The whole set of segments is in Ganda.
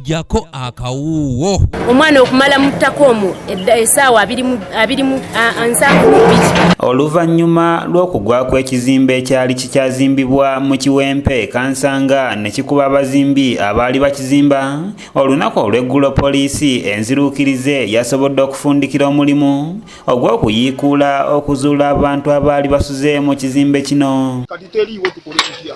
jako akawuuwo omwana okumala muttako omwo esaawa oluvannyuma lw'okugwa kw'ekizimbe ekyali kikyazimbibwa mu kiwempe kansanga ne kikuba abazimbi abaali bakizimba olunaku olw'eggulo poliisi enziruukirize yasobodde okufundikira omulimu ogw'okuyiikuula okuzuula abantu abaali basuze mu kizimbe kino kati teriiwo tukole tutya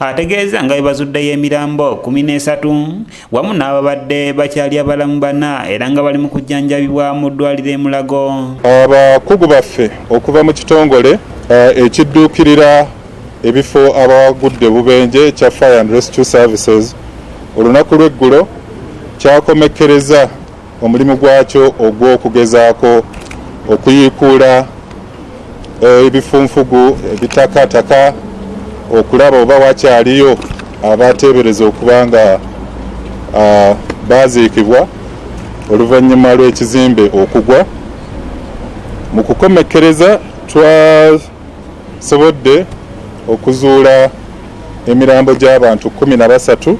ategeeza nga bwebazuddeyo emirambo kumi n'esatu wamu n'ababadde bakyali abalamu bana era nga bali mu kujjanjabibwa mu ddwaliro emulago abakugu baffe okuva mu kitongole eh, ekidduukirira ebifo abagudde bubenje ekya fire and rescue services olunaku lw'eggulo kyakomekkereza omulimu gwakyo ogw'okugezaako okuyiikuula eh, ebifunfugu ebitakataka okulaba oba wakyaliyo abateebereza okuba nga ah, baaziikibwa oluvannyuma lw'ekizimbe okugwa mu kukomekkereza twa Nsobodde okuzuula emirambo gy'abantu kkumi na basatu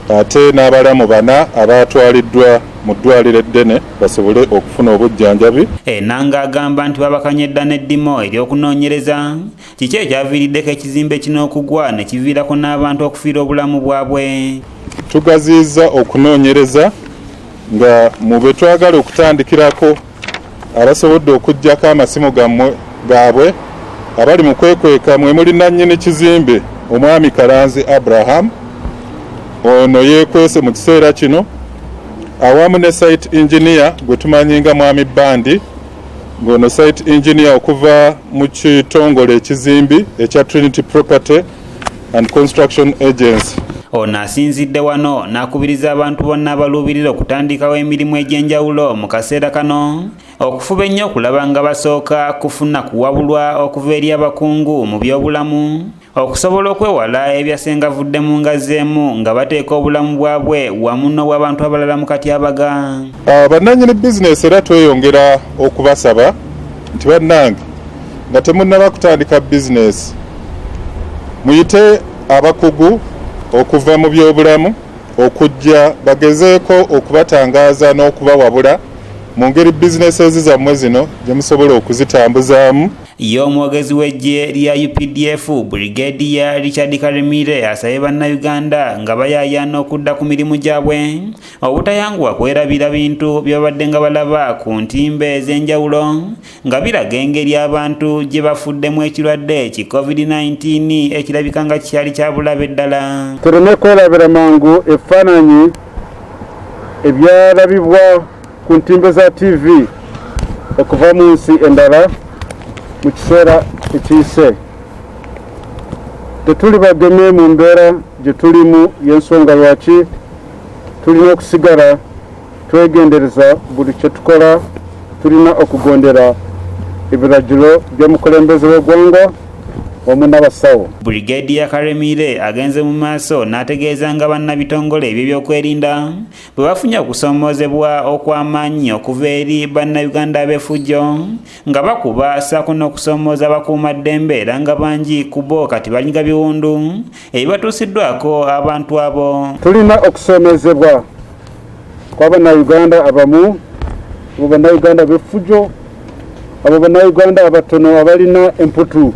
ate n'abalamu bana abaatwaliddwa mu ddwaaliro eddene basobole okufuna obujjanjabi. Enanga agamba nti babakanye dda n'eddimo ery'okunoonyereza kiki ekyaviiriddeko ekizimbe kino okugwa ne kiviirako n'abantu okufiirwa obulamu bwabwe. Tugaziyizza okunoonyereza nga mu be twagala okutandikirako. abasobodde okuggyako amasimu gaabwe abali mu kwekweka mwe muli nannyini kizimbe omwami kalanzi abraham ono yeekwese mu kiseera kino awamu ne site engineer gwe tumanyi nga mwami bandi ng'ono site engineer okuva mu kitongole ekizimbi ekya trinity property and Construction Agency. Ono asinzidde wano n'akubiriza abantu bonna abaluubirira okutandikawo emirimu egy'enjawulo mu kaseera kano okufuba ennyo okulaba nga basooka kufuna kuwabulwa okuva eri abakungu mu by'obulamu okusobola okwewala ebyasengavudde mu ngazi emu nga bateeka obulamu bwabwe wamu n'obw'abantu abalala mu katyabaga ah, bannannyini bizinesi era tweyongera okubasaba nti bannange nga temunnaba kutandika bizinesi muyite abakugu okuva mu byobulamu okujja bagezeeko okubatangaaza n'okubawabula mu ngeri bizinesi ezizammwe zino gye musobola okuzitambuzaamu ye omwogezi w'eggye lya updf brigadier richard karemire asabye bannayuganda nga bayayaana okudda ku mirimu gyabwe obutayanguwa kwerabira bintu byebabadde nga balaba ku ntimba ez'enjawulo nga biraga engeri abantu gye bafuddemu ekirwadde ki covid-19 ekirabika nga kyali kyabulabe ddala tulina okwelabira mangu ebifaananyi ebyalabibwa ku ntimbe za tv okuva mu nsi endala mu kiseera ekiyise tetuli bageme mu mbeera gye tulimu y'ensonga lwaki tulina okusigala Twegendereza buli kye tukola, tulina okugondera ebiragiro by'omukulembeze w'eggwanga wamu n'abasawo. Brigadier Karemire agenze mu maaso n'ategeeza nga bannabitongole eby'ebyokwerinda bwe bafunye okusoomoozebwa okw'amaanyi okuva eri bannayuganda ab'efujjo nga bakuba ssaako n'okusoomooza abakuumaddembe era nga bangi ku bo kati banyiga biwundu ebibatuusiddwako abantu abo tulina okusoomezebwa kw'abannayuganda abamu abo bannayuganda b'effujo abo bannayuganda abatono abalina emputu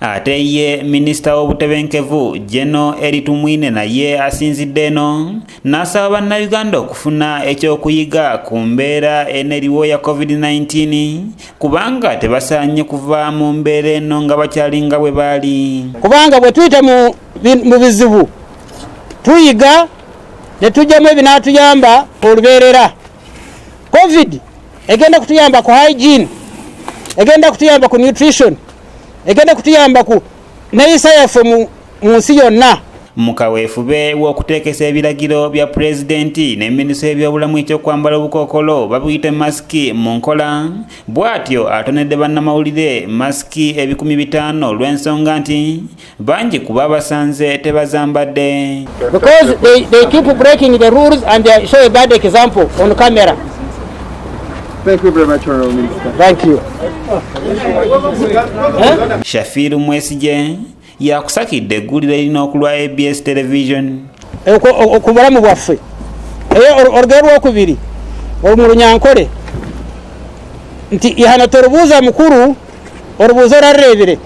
ate ye minisita w'obutebenkevu jeno eritumwine naye asinzidde eno n'asaba bannayuganda okufuna ekyokuyiga ku mbeera eneriwo ya covid-19 kubanga tebasaanye kuva mu mbeera eno nga bakyalinga bwe baali kubanga bwe tuyita mu bizibu tuyiga ne tujjamu ebinaatuyamba olubeerera covid egenda kutuyamba ku hygiene egenda kutuyamba ku nutrition egenda kutuyamba ku neyisa yaffe mu nsi yonna mu kaweefube w'okuteekesa ebiragiro bya pulezidenti ne minisitule y'ebyobulamu ekyokwambala obukookolo babuyite masiki mu nkola bw'atyo atonedde bannamawulire masiki ebikumi bitaano olw'ensonga nti bangi ku babasanze tebazambadde Thank you very much, Honorable Minister. Thank you. Shafiru Mwesigye yakusakidde egguliro erina okulwa ABS television eh, ku bulamu bwaffe era olugero lwokubiri mu lunyankole nti ihana torubuuza mukulu orubuuza orareebire